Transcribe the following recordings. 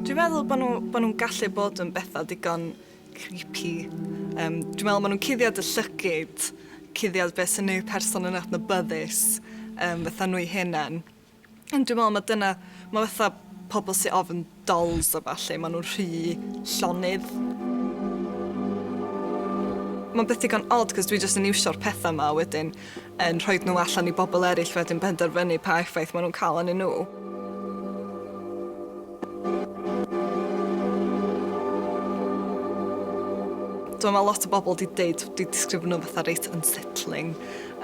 Dwi'n meddwl bod nhw'n nhw, nhw gallu bod yn bethau digon creepy. Um, dwi'n meddwl bod nhw'n cuddiad y llygyd, cuddiad beth sy'n neud person yn adnabyddus, um, fatha nhw'i hunan. Ond dwi me'wl ma' dyna, ma' fatha pobol sy ofn dolls a ballu, ma' nw'n rhy llonydd. Ma'n beth digon od 'c'os dwi jyst yn iwsio'r petha 'ma a wedyn yn rhoid nw allan i bobol eryll wedyn benderfynu pa effaith ma' nw'n ca'l anyn nw. Dw i'n meddwl lot o bobl 'di deud, 'di disgrifio nhw fatha reit unsettling.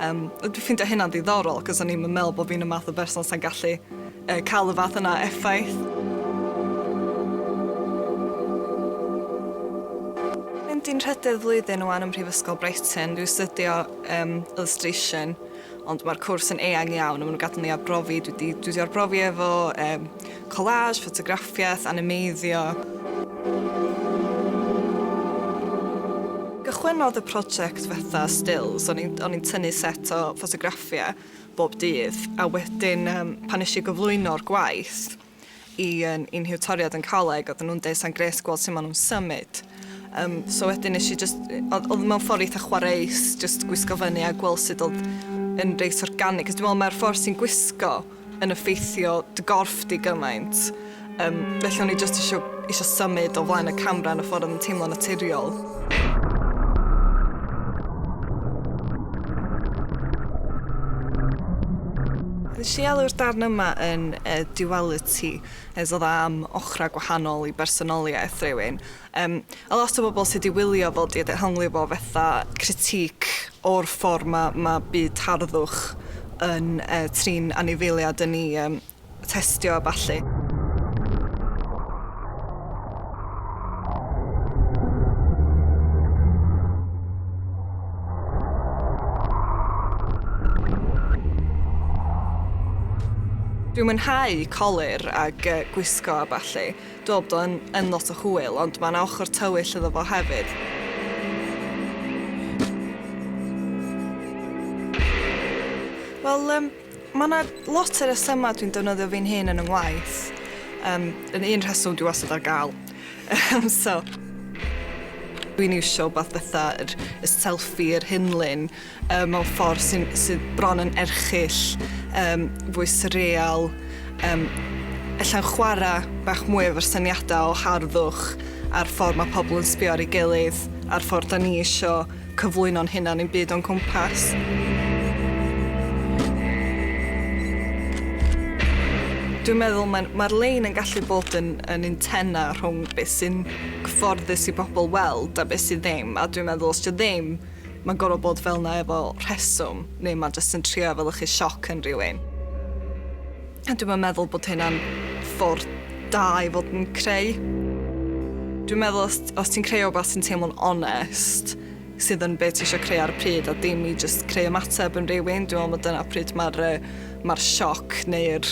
Yym a dwi ffeindio hynna'n ddiddorol, 'c'os o'n i'm yn meddwl bo' fi'n y math o berson sa'n gallu yy ca'l y fath yna o effaith. Mynd i'n nhrydydd flwyddyn ŵan ym Mhrifysgol Brighton, dwi astudio yym illustration ond ma'r cwrs yn eang iawn a ma' nhw'n gadel ni arbrofi, dwi 'di dwi 'di arbrofi efo yym Collage, ffotograffiaeth, animeiddio. Cychwynnodd y project fatha stills, o'n i'n o'n i'n tynnu set o ffotograffiau bob dydd a wedyn yym pan eisiau gyflwyno'r gwaith i yn i'n hiwtoriad yn coleg oedden nhw'n deud sa'n gres gweld sut maen nhw'n symud um, so wedyn nes i just, oedd oedd mewn ffordd eitha chwareus, just gwisgo fyny a gweld sut oedd yn reit organic, cos dwi'n meddwl mae'r ffordd sy'n gwisgo yn effeithio dy gorff di gymaint, um, felly o'n i jyst eisiau, eisiau symud o flaen y camera yn y ffordd yn teimlo naturiol. Nes i alw'r darn yma yn uh, duality, nes oedd am ochrau gwahanol i bersonoliaeth rhywun, Yym a lot o bobl sy 'di wylio fo 'di dehongli fo fetha critique o'r ffor ma' ma' byd harddwch yn yy trin anifeiliad yn 'i yym testio a ballu. Dwi'n mwynhau colur ag yy gwisgo a ballu Dw bod yn yn lot o hwyl ond mae 'na ochr tywyll iddo fo hefyd. Wel yym mae 'na lot o resymau dwi'n defnyddio fi'n hun yn 'y ngwaith. Yym yn un rheswm dwi wastad ar gael. Yym so dwi'n iwsio wbath fatha yr y selfie yr hunlun yy mewn ffordd sy'n sydd bron yn erchyll, yym fwy swreal, yym ella'n chwara' bach mwy efo'r syniadau o harddwch a'r ffordd mae pobl yn sbio ar ei gilydd a'r ffordd 'dan ni isio cyflwyno'n hunan i'n byd o'n cwmpas. Dwi'n meddwl mae'n mae'r lein yn gallu bod yn yn un tena rhwng beth sy'n cyfforddus i bobl weld a beth sydd ddim a dwi'n meddwl os 'di o ddim Mae'n gorfod bod fel 'na efo rheswm, neu mae jyst yn trio efelychu sioc yn rhywun. A dwi'm yn meddwl bod hynna'n ffordd da i fod yn creu. Dwi'n meddwl os, os ti'n creu rhywbeth sy'n teimlo'n onest, sydd yn be ti eisiau creu ar y pryd, a dim i jyst creu ymateb yn rhywun, dwi'n meddwl bod dyna pryd mae'r uh, ma sioc neu'r